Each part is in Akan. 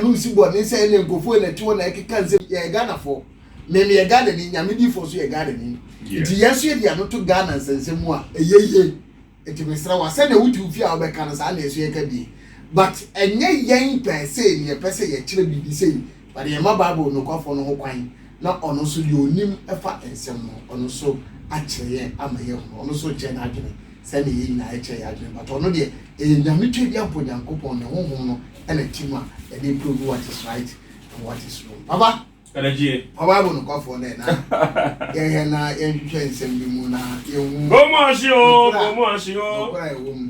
Ɛho nsi bɔ ne sɛ ɛna nkurɔfoɔ na ɛte hɔ na ɛkeka nsɛm yɛyɛ Ghanafoɔ me meyɛ Ghanani Nyame diifoɔ nso yɛ Ghanani nti yɛn nso yɛde yɛn ano to Ghana nsɛnsɛm mu a ɛyɛ yie nti mesrɛ wo a sɛdeɛ wote wo fie a wobɛka no saa na yɛn nso yɛka bi but ɛnyɛ yɛn pɛɛ sei na yɛpɛ sɛ yɛkyerɛ biribi sei Ɔde yɛn ma Bible nokwafo no ho kwan na ɔno nso deɛ ɔnim fa nsɛm no ho, ɔno nso akyerɛ yɛn ama yɛahunu. Ɔno nso rekyerɛ n'adwene sɛdeɛ yɛn nyinaa yɛkyerɛ yɛn adwene, but ɔno deɛ ɛyɛ nyametweaduampɔ, Nyankopɔn ne honhom no na te mu a ɛde reprove what is right and what is wrong. Papa, fa Bible nokwafoɔ nnɛ na yɛhwɛ na yɛnhwehwɛ nsɛm bi mu na yɛhu nokora a ɛwɔ mu.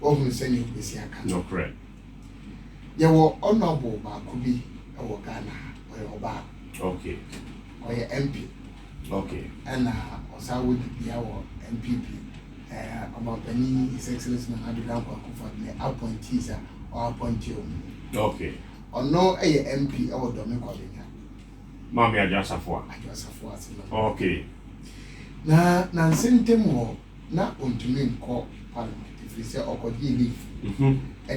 wahunu sɛnea wobesi aka no. Nokorɛ. Yɛwɔ honourable baako bi wɔ Ghana ha, ɔyɛ ɔbaa. Okay. Ɔyɛ MP. Okay. Ɛna ɔsan wɔ dibea wɔ NPP. Ɛɛ ɔmampanin His Excellency Nana Addo Dankwa Akufo-Addo ne appointees a ɔappointe wɔn mu. Okay. Ɔno yɛ MP wɔ Dɔme Kwabenya. Maame Adwo Asafo a. Adwo Asafo ase no. Okay. Na nansa ntam wɔ. na ontumi nkɔ parliament ɛfiri sɛ ɔkɔgyee leave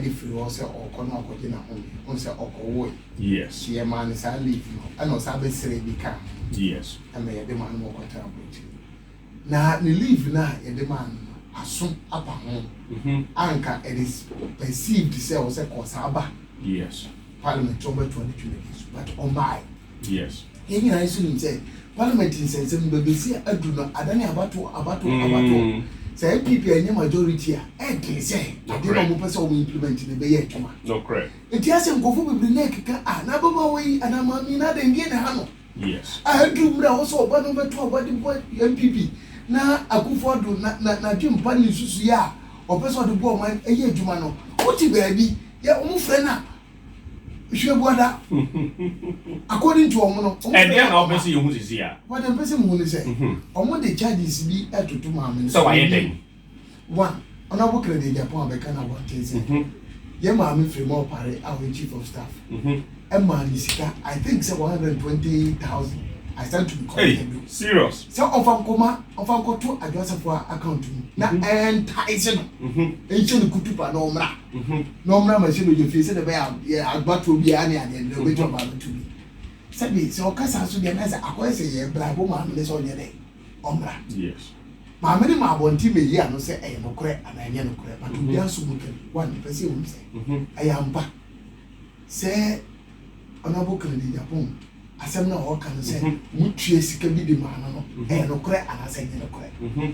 de firi hɔ sɛ ɔrekɔ na wakɔgye n'ahome wohu sɛ ɔkɔwoe nti yɛmaa no saa leave no ɛna ɔsan bɛsrɛɛ bi kaa ho ɛma yɛde maa no ma ɔkɔtena aburokyire na ne leave no a yɛde maa no no aso apa ho anka it is perceived sɛ ɔsɛ kɔ saa ba parliament sɛ ɔbɛtoa ne dwumadi so but ɔmbae Yes. Yɛn nyinaa nso nim sɛ parliament nsɛnsɛm no bɛbɛsi adu no adane abatoɔ abatoɔ abatoɔ. Mm. Sɛ NPP ɛnyɛ majority a ɛdene sɛ adeɛ na wɔpɛ sɛ wɔn implement no ɛbɛyɛ adwuma. Nokorɛ. Nti asɛ nkurɔfoɔ bebree na ɛkeka a na ababaawa yi anaa maame yi na adɛn deɛ na ɛha no. Yes. A aduru mmerɛ a ɛwɔ sɛ ɔba no bɛto aba de bɔ NPP na Akufo Addo na na n'adwene pa ne nsusuiɛ a ɔpɛ sɛ ɔde bɔ ɔman ɛyɛ adwuma no wote baabi yɛ wɔn frɛ no a Mehwɛ guada. According to wɔn no. Ɛdeɛ na wɔpɛ sɛ yɛhu sisi a. Wɔde mpɛ sɛ muhu ne sɛ. Wɔn de charges bi ɛtoto maame no. Sɛ wayɛ dɛn. One, Honourable Kennedy Agyapong abɛka no abɔnten sɛ. Yɛn maame Fremah Opare a ɔyɛ chief of staff. Ɛmaa ne sika I think sɛ one hundred and twenty thousand. I stand to be corrected o. Serious. Sɛ ɔnfa nkɔma ɔnfa nkɔto Adwoa Safo a account mu na ɛntaese no. Nhyɛ no kutupa na ɔmmra. Mhm. na ɔmmra m'ahyɛbadwa fie sɛdeɛ ɛbɛyɛ a yɛ agbatoɔ biara ne adeɛ no deɛ ɔbɛtumi aba abɛto bi sɛbi sɛ ɔka saa so deɛ na sɛ akɔyɛ sɛ yɛ brabo maame ne sɛ ɔnyɛ dɛ ɔmmra yes maame ne ma abɔnten mɛyi ano sɛ ɛyɛ nokorɛ anaa ɛnyɛ nokorɛ but obi aso mu kɛm wa mepɛ sɛ ɛhu sɛ Mhm. ɛyɛ ampa sɛ ɔnabo kennedy japan asɛm no a ɔka no sɛ Mhm. motue sika bi de maa no no Mhm. ɛyɛ nokorɛ anaasɛ ɛnyɛ nokorɛ Mhm.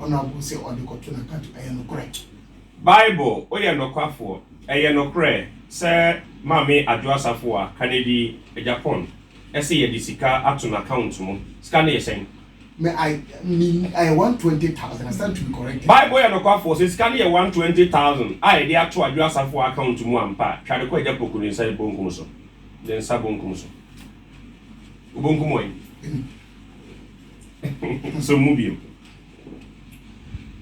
Ɔna bo sɛ ɔde kɔto na kato ɛyɛ nokorɛ. Bible woyɛ nokwafoɔ ɛyɛ nokorɛ sɛ maame adwo asafoa kanedi Japan ɛse yɛde sika ato no account mu sika no yɛ sɛn. Me I me ɛyɛ one twenty thousand I stand to be corrected. Bible woyɛ nokwafoɔ sɛ sika no yɛ one twenty thousand a yɛde ato adwo asafoa account mu ampa a twa de kɔ agya poku ne nsa bonkum so ne nsa bonkum so wobonkum wɔn. Asɛm mu bio.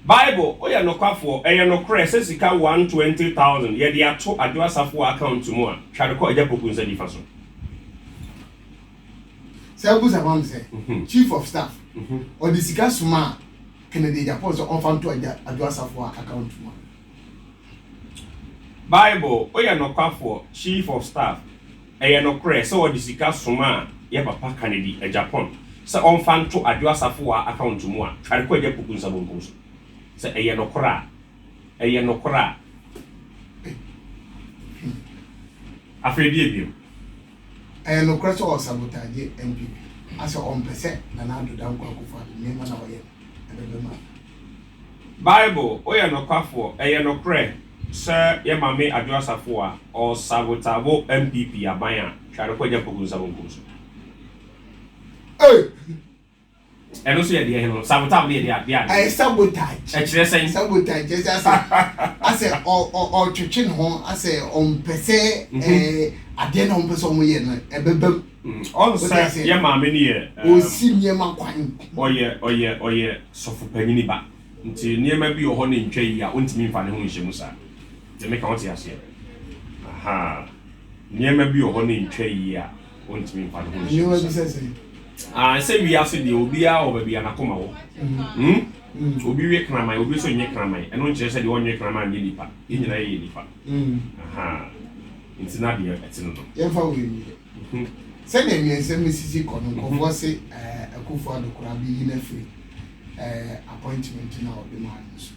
Bible, Woyɛ nokwafoɔ, ɛyɛ nokorɛ sɛ sika one twenty thousand yɛ de ato Adwo Asafo wɔ account mu a, tware kɔ Agyapɔku nsa nifa so. Sɛ wobusa ma me sɛ, Chief of Staff, ɔde sika somaa Kennedy Agyapong sɛ ɔmfa nto Adwo Asafo wɔ account mu a. Bible, Woyɛ nokwafoɔ, Chief of Staff. Ɛyɛ nokorɛ sɛ wɔde sika somaa yɛ papa Kanedi, Japan, sɛ ɔmfa nto Adwo Asafowaa account mu a tware kɔ Agya Poku nsa bonkum so? Sɛ ɛyɛ nokorɛ a, ɛyɛ nokorɛ a, afei deɛ bio? Ɛyɛ nokorɛ sɛ ɔsabotaagye NPP a sɛ ɔmpɛ sɛ Nana Addo Dankwa Akufo-Addo nneɛma no a ɔyɛ no ɛbɛbam a? Bible, Woyɛ Nokwafoɔ, Ɛyɛ nokorɛ sɛ yɛ Maame Adwo Asafo a ɔsavotavo NPP aban a Tware Kwadwo Apoku nsa bonkum so. Ɛno nso yɛ deɛ he no? Savotavo no yɛ deɛ a? Ayɛ sabotage. Ɛkyerɛ sɛn? Sabotage kyerɛ sɛ asɛ asɛ ɔtwetwe ne ho asɛ ɔmpɛ sɛ ɛɛ adeɛ no a ɔmpɛ sɛ ɔmo yɛ no ɛbɛbam. Mm, ɔn sɛ yɛ maame no yɛ. Ɔsi nneɛma kwan. Ɔyɛ ɔyɛ ɔyɛ sɔfo panyini ba nti nneɛma bi wɔ hɔ ne ntwa yi a ɔntumi nfa ne ho nhyɛ mu saa. Deɛ meka ɔte aseɛ. Aha. Nneɛma bi wɔ hɔ ne ntwa yi a ɔntumi nfa ne ho nhyɛ mu saa. Ah, sɛ wiase deɛ obiara wɔ baabi a n'akoma wɔ. Mm. Mm. Obi we kraman, obi nso nyɛ kraman. Ɛno nkyerɛ sɛ deɛ ɔnyɛ kraman nyɛ nipa. Yɛn nyinaa yɛ nipa. Ahaa. Enti na deɛ ɛte no no. Yɛmfa wei nie. Sɛdeɛ amiɛnsɛm no sisi kɔ no, nkurɔfoɔ se Akuffo Addo koraa bɛyi no afiri appointment no a wɔde maa no no so,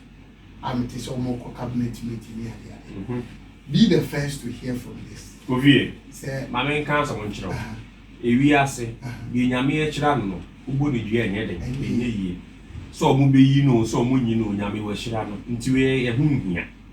a mete sɛ wɔrekɔ cabinet meeting ne adeade. Be the first to hear from this. Kofie, ma menka asɛm nkyerɛ wo. Ewiase, deɛ Nyame ahyira no no, wobɔ no dua a ɛnyɛ den, ɛnyɛ yie. Sɛ wɔbɛyi no oo, sɛ wɔnnyi no oo, Nyame wahyira no, nti wei yɛ ho nhia.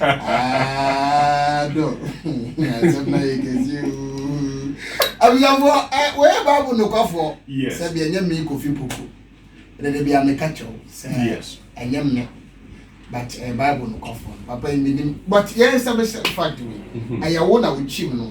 Ah, do. Asɛm na yɛ kɛse oo. Abusuafo, ɛ wɔyɛ baabu nokwafo. Yes. Sɛbi ɛnyɛ mi kofi popo. Dede bi a mi ka kyɛw sɛ Yes. ɛnyɛ mi. But ɛyɛ baabu nokwafo. Papa yi mi nim. But yɛn sɛ mi sɛ fact wei. Ɛyɛ wo na wokyim no.